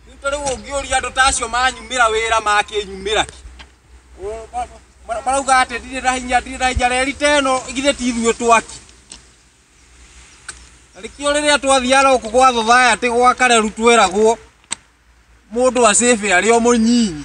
Rĩu ta rĩu ũngĩũria andũ ta acio manyumĩra wĩra makĩnyumĩra ki. Ũ- ma- ma- Marauga atĩ ndirĩ na hinya ndirĩ na hinya reri ta ĩno githĩ ti ithuĩ twaki. Na nĩkĩo rĩrĩa twathiaga gũkũ gwa thothaayatĩ gwa kareru tweragwo mũndũ acĩbe arĩ o mũnyinyi.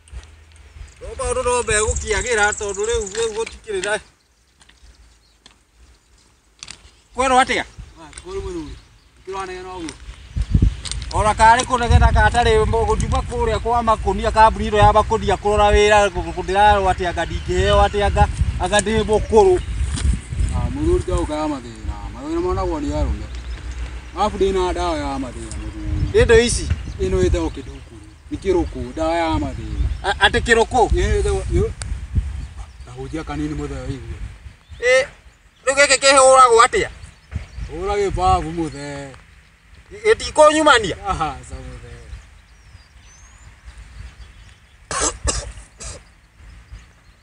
Rũbaru rũmbe gũkĩagĩra tondũ rĩu rĩu gũtikĩrĩ na kwerwo atĩa ona karĩ kũnegena katarĩ gũtuma kũrĩa kwa makũnia kambuni ĩno ya makũnia kũrora wĩra ndĩrarwo atĩ anga ndingĩheo atĩ anga anga ndĩ mũkũrũ ah, mũthuri ta ũkaga mathĩna mathĩna monagwo nĩ arũme arabu ndĩ na ndawa ya mathĩna mũthuri ĩndo ici ĩno ĩtagwo kĩndukuru nĩ kĩrũkũ ndawa ya mathĩna A- atĩ kĩrũkũ Ĩ, tho- ĩ, kahunjia kanini mũthee wĩigue Ĩ, rĩu gĩkĩ kĩhũragwo atĩa hũra gĩbabu mũthee gĩtikũnyumania ahaca mũthee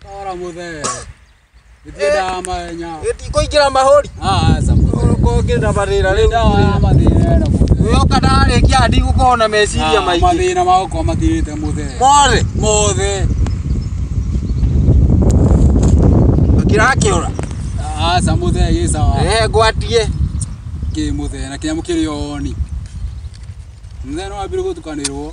tora mũthee Nĩtwendaga mahenya. Kũingĩra mahũri. Ah, aca. Ũkorwo ngĩenda marĩra rĩu. Nĩndawa ya mathĩna ĩno. Yoka ndarĩkia hadi gũkorwo na meciria Ah, maingĩ. Mathĩna magũkorwo mathirĩte mũthee. Mothe. Mothe. Kĩrakĩũra. Aca mũthee gĩ sawa. Eh, ngwatie. Kĩ mũthee na kĩnyamũ kĩrĩ o ni. Mũthee no wambire gũtukanĩrwo.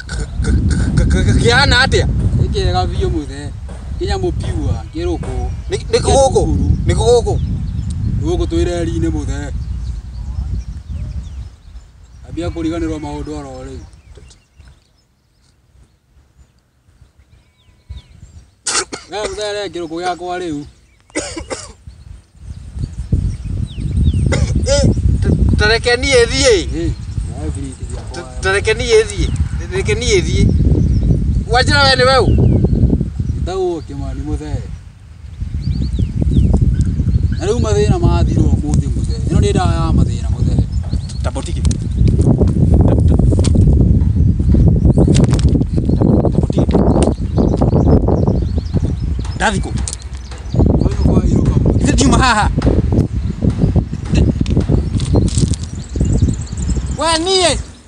kĩhana atĩa nĩ kĩega biũ mũthe nginya mũpiua kĩrũkũ nĩ nĩ gũkũ nĩ gũkũ gũkũ twĩ reri-inĩ mũthe ambia kũriganĩrwo maũndũ oro rĩu Gaya gũthere kĩrũkũ gĩakwa rĩu. Tareke niĩ thiĩ. Tareke niĩ thiĩ. Tareke niĩ thiĩ. Wanjĩra we nĩ weũ? Njĩtagwo Kĩmani Mũthee. Na rĩu mathĩna mathirwo ũmũthĩ mũthee. Ĩno nĩ ndawa ya mathĩna mũthee. Tabotiki. Ndathikũ. Kwani kwa hiyo kama Ithe ndiuma haha. we niĩ